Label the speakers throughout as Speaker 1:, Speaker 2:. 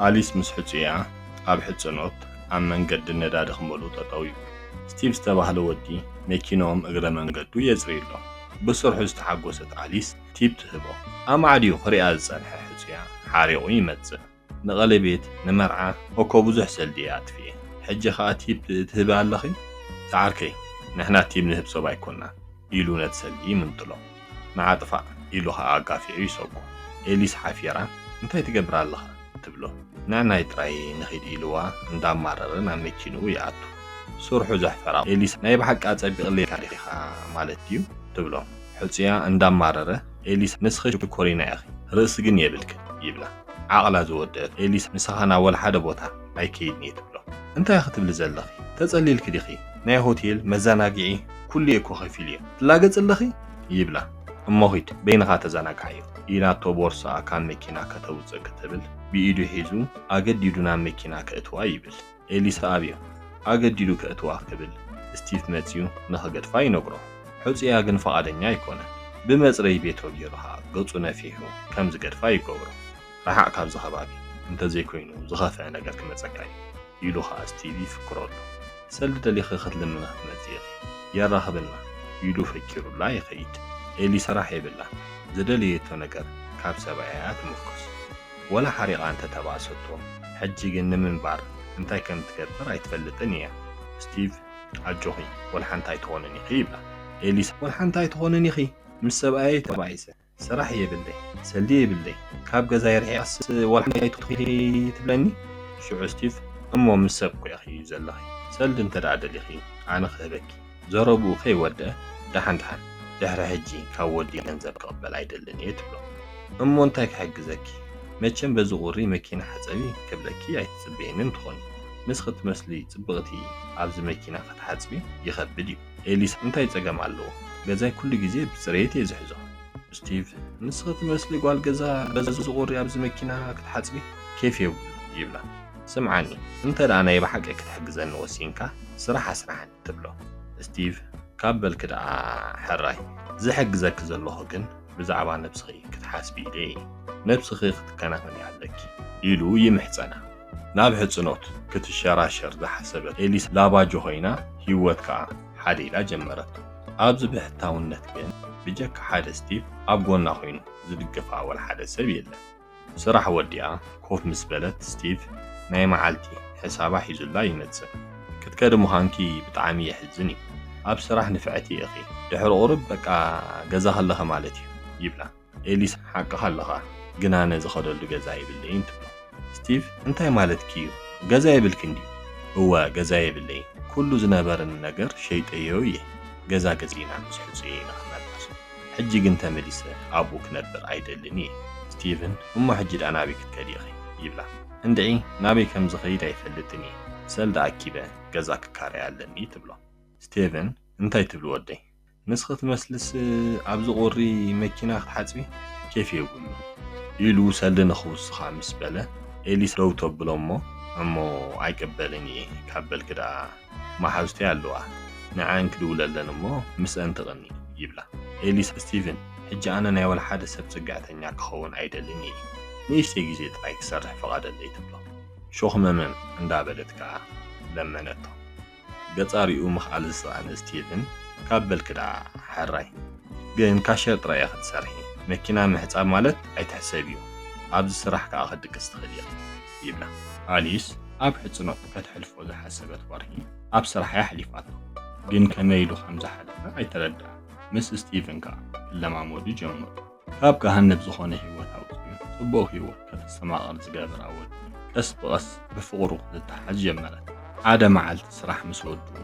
Speaker 1: ኣሊስ ምስ ሕጹያ ኣብ ሕጽኖት ኣብ መንገዲ ነዳዲ ክመልኡ ጠጠው ይብሉ። ስቲቭ ዝተባህለ ወዲ መኪንኦም እግረ መንገዱ የጽርዩሎም። ብስርሑ ዝተሓጎሰት ኣሊስ ቲፕ ትህቦ። ኣማዕድዩ ክሪኣ ዝጸንሐ ሕጹያ ሓሪቑ ይመጽእ። ንቐሌቤት ንመርዓ እኮ ብዙሕ ሰልዲ እየ ኣጥፊኤ ሕጂ ከኣ ቲፕ ትህቢ ኣለኺ? ዝዓርከይ ንሕና ቲብ ንህብ ሰብ ኣይኮናን። ኢሉ ነቲ ሰልዲ ይምንጥሎ። ንዓ ጥፋእ! ኢሉ ኸኣ ኣጋፊዑ ይሰጎ። ኤሊስ ሓፊራ እንታይ ትገብር ኣለኻ? ትብሎ። ንዕናይ ጥራይ ንኺድ ኢልዋ እንዳማረረ ናብ መኪንኡ ይኣቱ። ስርሑ ዘሕፈራ ኤሊስ ናይ ብሓቂ ኣጸቢቕለይካ ዲኻ ማለት ድዩ? ትብሎ። ሕጹያ እንዳማረረ ኤሊስ ንስኺ ሽኮሪና ኢኺ ርእሲ ግን የብልክን ይብላ። ዓቕላ ዝወደኣት ኤሊስ ምሳኻ ናብ ወላሓደ ቦታ ኣይከይድን'የ ትብሎ። እንታይ ክትብሊ ዘለኺ? ተጸሊልኪ ዲኺ? ናይ ሆቴል፣ መዘናግዒ፣ ኩሉ እየ እኮ ከፊሉ እየ ትላገፂ ኣለኺ ይብላ። እሞ ኺድ በይንኻ ተዘናግዓዮ ኢላቶ ቦርስኣ ካብ መኪና ከተውፅእ ክትብል ብኢዱ ሒዙ ኣገዲዱ ናብ መኪና ከእትዋ ይብል። ኤሊሳ ኣብዩ ኣገዲዱ ከእትዋ ክብል ስቲፍ መፅዩ ንኽገድፋ ይነግሮ። ሕፁያ ግን ፍቓደኛ ኣይኮነን። ብመፅረዪ ቤቶ ገይሩ ኸዓ ገፁ ነፊሑ ከም ዝገድፋ ይገብሮ። ርሓቕ ካብዚ ከባቢ እንተዘይኮይኑ ዝኸፍኣ ነገር ክመፀካ እዩ። ኢሉ ኸኣ ስቲቭ ይፍክረሉ። ሰልዲ ደሊኺ ክትልምና ትመጺ ኢኺ፣ የራኽበና ኢሉ ፈኪሩላ ይኸይድ። ኤሊ ስራሕ የብላን፣ ዝደለየቶ ነገር ካብ ሰብኣያ'ያ ትምርኮስ። ወላ ሓሪቓ እንተ ተባእሰቶ፣ ሕጂ ግን ንምንባር እንታይ ከም ትገብር ኣይትፈልጥን ኢያ። ስቲቭ ኣጆኺ ወልሓንቲ ኣይትኾንን ኢኺ ይብላ። ኤሊ ወልሓንቲ ኣይትኾንን ኢኺ፣ ምስ ሰብኣየይ ተባኢሰ ስራሕ የብለይ ሰልዲ የብለይ ካብ ገዛይ ርሒቐስ ዋላ ሓንቲ ኣይትኹኒ ትብለኒ ሽዑ ስቲቭ እሞ ምስ ሰብ እኮ ኢኺ ዘለኺ ሰልዲ እንተ ደሊኺ ኣነ ክህበኪ ዘረብኡ ከይወድኣ ደሓን ደሓን ድሕሪ ሕጂ ካብ ወዲ ገንዘብ ክቕበል ኣይደልን እየ ትብሎ እሞ እንታይ ክሕግዘኪ መቸም በዚ ቁሪ መኪና ሓፀቢ ክብለኪ ኣይትፅበየንን ትኾኒ ንስኺ ትመስሊ ፅብቕቲ ኣብዚ መኪና ክትሓፅቢ ይኸብድ እዩ ኤሊሳ እንታይ ጸገም ኣለዎ ገዛይ ኩሉ ግዜ ብጽሬት እየ ዝሕዞ። ስቲቭ ንስኺ ትመስሊ ጓል ገዛ በዚ ዝቑሪ ኣብዚ መኪና ክትሓጽቢ ኬፍ የብሉን ይብላ። ስምዓኒ እንተ ናይ ብሓቂ ክትሕግዘኒ ወሲንካ ስራሕ ኣስርሓኒ ትብሎ። ስቲቭ ካብ በልኪ ደኣ ሕራይ ዝሕግዘኪ ዘለኹ ግን ብዛዕባ ነብስኺ ክትሓስቢ ኢለ እየ ነብስኺ ክትከናኸኒ ኣለኪ ኢሉ ይምሕጸና። ናብ ሕጽኖት ክትሸራሸር ዝሓሰበት ኤሊስ ላባጆ ኮይና ህይወት ከኣ ሓደ ኢላ ጀመረቶ። ኣብዚ ብሕታውነት ግን ብጀካ ሓደ ስቲቭ ኣብ ጎና ኮይኑ ዝድግፋ ወልሓደ ሰብ የለን። ስራሕ ወዲኣ ኮፍ ምስ በለት ስቲቭ ናይ መዓልቲ ሕሳባ ሒዙላ ይመጽእ። ክትከዲ ምዃንኪ ብጣዕሚ የሕዝን እዩ። ኣብ ስራሕ ንፍዕቲ ኢኺ። ድሕሪ ቁሩብ በቃ ገዛ ከለኺ ማለት እዩ ይብላ። ኤሊሳ ሓቅኻ ኣለኻ ግን ኣነ ዝኸደሉ ገዛ የብለይን ትብሎ። ስቲቭ እንታይ ማለትኪ እዩ ገዛ የብልክን ድዩ? እወ ገዛ የብለይን ኩሉ ዝነበረኒ ነገር ሸይጠዮ እየ ገዛ ገዚእና ምስ ሕጹየይ ንኽነብር ሕጂ ግን ተመሊሰ ኣብኡ ክነብር ኣይደልን እየ። ስቲቭን እሞ ሕጂ ድኣ ናበይ ክትከዲ ኢኺ? ይብላ። እንድዒ ናበይ ከም ዝኸይድ ኣይፈልጥን እየ ሰልዲ ኣኪበ ገዛ ክካረይ ኣለኒ ትብሎ። ስቲቭን እንታይ ትብሊ ወደይ ምስ ክትመስልስ ኣብዚ ቁሪ መኪና ክትሓጽቢ ኬፍ የብሉን ኢሉ ሰልዲ ንኽውስኻ ምስ በለ ኤሊስ ደው ተብሎ እሞ እሞ ኣይቅበልን እየ ካብ በልኪ ደኣ መሓዙተይ ኣለዋ ንዐኣን ክድውለለን እሞ ምስአን ትቕኒ ይብላ ኤሊስ ስቲቭን ሕጂ ኣነ ናይ ወልሓደ ሰብ ጽግዕተኛ ክኸውን ኣይደልን እየ ንእሽተይ ግዜ ጥራይ ክሰርሕ ፍቓደለይ ትብሎ ሾኽመመም እንዳበለት ከኣ ለመነቶ። ገጻሪኡ ምኽኣል ዝሰኣነ ስቲቭን ካብ በልኪ ደኣ ሐራይ ግን ካሸር ጥራይ ኢኺ ትሰርሒ መኪና ምሕጻብ ማለት ኣይትሕሰብዮ ኣብዚ ስራሕ ከኣ ክትድቅሲ ትኽእሊ ኢኺ ይብላ። ኣሊስ ኣብ ሕጽኖት ከተሕልፎ ዝሓሰበት ወርሒ ኣብ ስራሕ'ያ ኣሕሊፋቶ ግን ከመይ ኢሉ ከም ዝሓለፈ ኣይተረድኣን ምስ ስቲቭን ከኣ ክለማመዱ ጀመሩ። ካብ ገሃነብ ዝኾነ ህይወት ኣውጺኡ ጽቡቕ ህይወት ከተስተማቕር ዝገብር ኣወት ቀስ ብቐስ ብፍቕሩ ክትተሓዝ ጀመረት። ሓደ መዓልቲ ስራሕ ምስ ወድኡ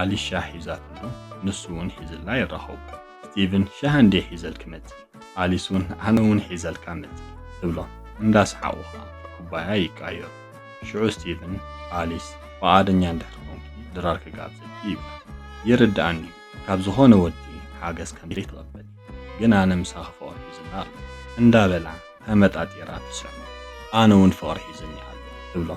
Speaker 1: ኣሊሻ ሒዛትሉ ንሱ እውን ሒዝላ ይራኸቡ። ስቲቭን ሻሂ እንድየ ሒዘልኪ መጺእ፣ ኣሊስ እውን ኣነ እውን ሒዘልካ መጺእ ትብሎም። እንዳሰሓቑ ከኣ ኩባያ ይቀያየሩ። ሽዑ ስቲቭን ኣሊስ ፍቓደኛ እንድሕር ኮንኪ ድራር ክጋብዘኪ ይብላ። ይርድኣኒ እዩ ካብ ዝኾነ ወዲ ሓገዝ ከምዘይትቕበሊ። ግን ኣነ ምሳኺ ፍቕሪ ሒዙኒ ኣሎ እንዳበላ ተመጣጢራ ትስዕሞ ኣነ ውን ፍቕሪ ሒዙኒ ኣሎ ትብሎ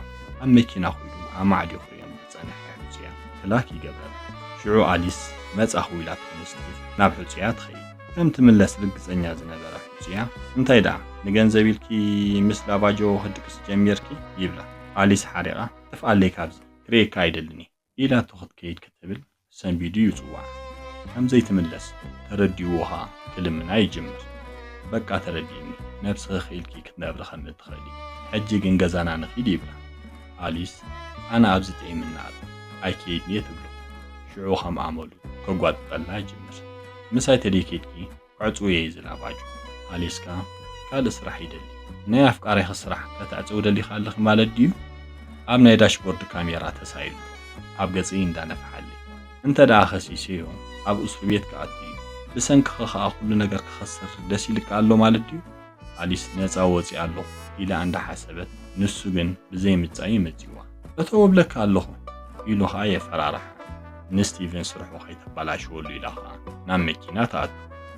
Speaker 1: ኣብ መኪና ኹይዱ ኣማዕዲኹ ሪኦም ዝፀንሐ ሕፁያ ክላክ ይገብረላ ሽዑ ኣሊስ መፃኹ ኢላ ተነስቲ ናብ ሕፁያ ትኸይድ ከም ትምለስ ርግፀኛ ዝነበረ ሕፁያ እንታይ ደኣ ንገንዘብ ኢልኪ ምስ ላባጆ ክትድቅሲ ጀሚርኪ ይብላ ኣሊስ ሓሪቓ ጥፍኣለይ ካብዚ ክርእየካ ኣይደልን እየ ኢላቶ ክትከይድ ክትብል ሰንቢዱ ይጽውዓ። ከም ዘይትምለስ ተረዲእዎ ከኣ ክልምና ይጅምር። በቃ ተረዲእኒ፣ ነብስኺ ክኢልኪ ክትነብሪ ከም እትኽእሊ፣ ሕጂ ግን ገዛና ንኺድ ይብላ። ኣሊስ ኣነ ኣብዚ ጥዒምኒ ኣሎ ኣይከይድን'የ ትብሎ። ሽዑ ከም ኣመሉ ከጓጥጠላ ይጅምር። ምሳይ ተደይከድኪ? ዕጽውየይ ዝላባጩ ኣሊስካ ካልእ ስራሕ ይደሊ። ናይ ኣፍቃሪኺ ስራሕ ከተዕጽዊ ደሊኺ ኣለኺ ማለት ድዩ? ኣብ ናይ ዳሽቦርድ ካሜራ ተሳኢሉ ኣብ ገጽይ እንዳነፍሓለይ። እንተድኣ ከሲሰዮ ኣብ ኡስርቤት ክኣቱ እዩ። ብሰንክኺ ከኣ ኩሉ ነገር ክኸስር ደስ ኢልኪ ኣሎ ማለት ድዩ? ኣሊስ ነጻ ወጺኣ ኣለኹ ኢላ እንዳ ሓሰበት ንሱ ግን ብዘይ ምጻይ እዩ መጺዋ። ፈተው እብለካ ኣለኹ ኢሉ ከኣ የፈራርሓ። ንስቲቭን ስርሑ ከይተባላሽወሉ ኢላ ከኣ ናብ መኪና ትኣቱ።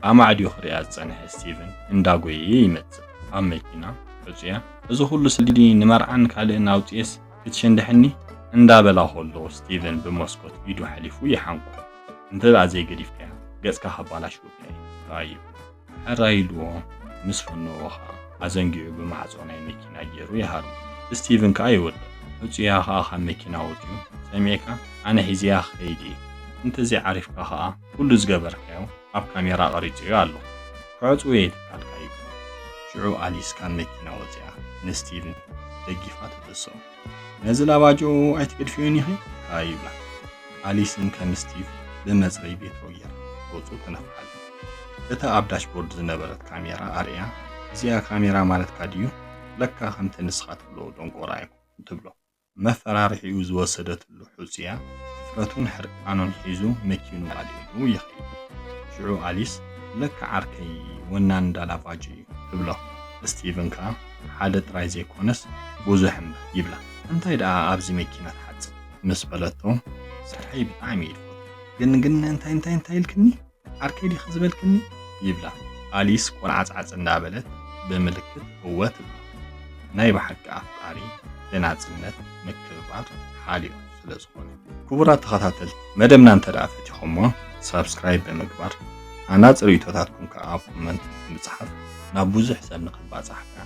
Speaker 1: ኣማዕድዩ ክርእያ ዝጸንሐ ስቲቭን እንዳ ጎየየ ይመጽእ። ኣብ መኪና ዕጹያ እዚ ኩሉ ስዲ ንመርዓን ካልእን ኣውጺኤስ ክትሸንድሐኒ እንዳ በላ ከሎ ስቲቭን ብመስኮት ኢዱ ሓሊፉ ይሓንቆ። እንተ ዘይገዲፍካያ ገጽካ ከባላሽወካ እየ ረኣዮ። ሕራይ ኢልዎ ምስ ፈነዎ ከኣ ኣዘንጊዑ ብማዕጾ ናይ መኪና ጌሩ ይሃርሞ። ስቲቭን ከኣ ይወድቕ። ዕጹያ ከኣ ካብ መኪና ወጺኡ ሰሚዕካ ኣነ ሒዘያ ክኸይድ እየ እንተ ዘይዓሪፍካ ከኣ ኩሉ ዝገበርካዮ ኣብ ካሜራ ቀሪጸዮ ኣለኹ ክዕጽው እየ ትካልካ ይብሎ። ሽዑ ኣሊስ ካብ መኪና ወጺኣ ንስቲቭን ደጊፋ ተተስኦ። ነዚ ላባጅኦ ኣይትግድፍዮን ኢኺ ካኣ ይብላ። ኣሊስን ከም ስቲቭ ብመጽረይ ቤትሮየር ገጹ ተነፍሓሉ። እታ ኣብ ዳሽቦርድ ዝነበረት ካሜራ ኣርእያ እዚኣ ካሜራ ማለትካ ድዩ ለካ ከምቲ ንስኻ ትብሎ ደንቆሮ ኣይኮንኩን ትብሎ። መፈራርሒኡ ዝወሰደትሉ ልሑጽ'ያ፣ ድፍረቱን ሕርቃኑን ሒዙ መኪኑ ኣልዒሉ ይኸይድ። ሽዑ ኣሊስ፣ ለካ ዓርከይ ወናኒ ዳላቫጅ'ዩ ትብሎ። ስቲቭን ከኣ፣ ሓደ ጥራይ ዘይኮነስ ብዙሕ እምበር ይብላ። እንታይ ደኣ ኣብዚ መኪና ትሓጽብ? ምስ በለቶ፣ ስርሐይ ብጣዕሚ'የ ድፈትዎ፣ ግን ግን እንታይ እንታይ እንታይ ኢልክኒ? ዓርከይ ዲኺ ዝበልክኒ? ይብላ ኣሊስ ቆንዓጽዓጽ እንዳበለት ብምልክት እወ ትብሎ። ናይ ብሓቂ ኣፍቃሪ ብናጽነት ምክብባር ሓልዮ ስለ ዝኾነ። ክቡራት ተኸታተልቲ መደብና እንተደኣ ፈቲኹሞ ሳብስክራይብ ብምግባር ኣናጽር ሪኢቶታትኩም ከኣ ኣብ ኮመንት ብምጽሓፍ ናብ ብዙሕ ሰብ ንኽባጻሕ ከኣ